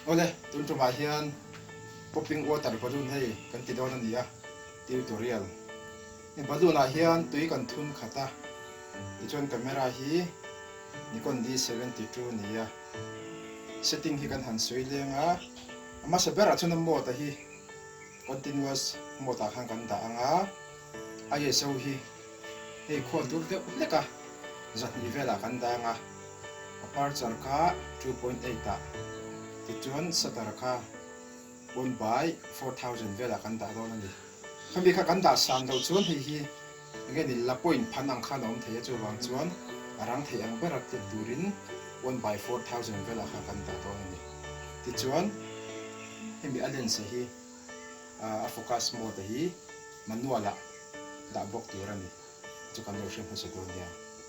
Awle, tun ṭawmah hian Popping Water Balloon hei kan ti dawn a ni a, Tutorial, I balloon ah hian tui kan thun khat a, tichuan camera hi Nikon D72 ni a, setting hi kan han sawi leng a, a hmasa berah chuan a mode a hi, Continuous mode ah khan kan dah ang a, ISO hi hei khuan dur deuh hleka zahnih velah kan dang a, Aperture kha two point eight ah, tichuan Shutter kha one by four thousand velah kan dah dawn a ni. Khami kha kan dah sang lo chuan hei hi. Ngenin la point phan ang khan a awm thei a, chuvang chuan a rang thei ang ber a tih turin one by four thousand vela kha kan dah dawn a ni. Tichuan hemi a lens-a hi a focus mode-a hi manual-ah dah bawk tur a ni, chu kan lo hre hmasa dawn nia.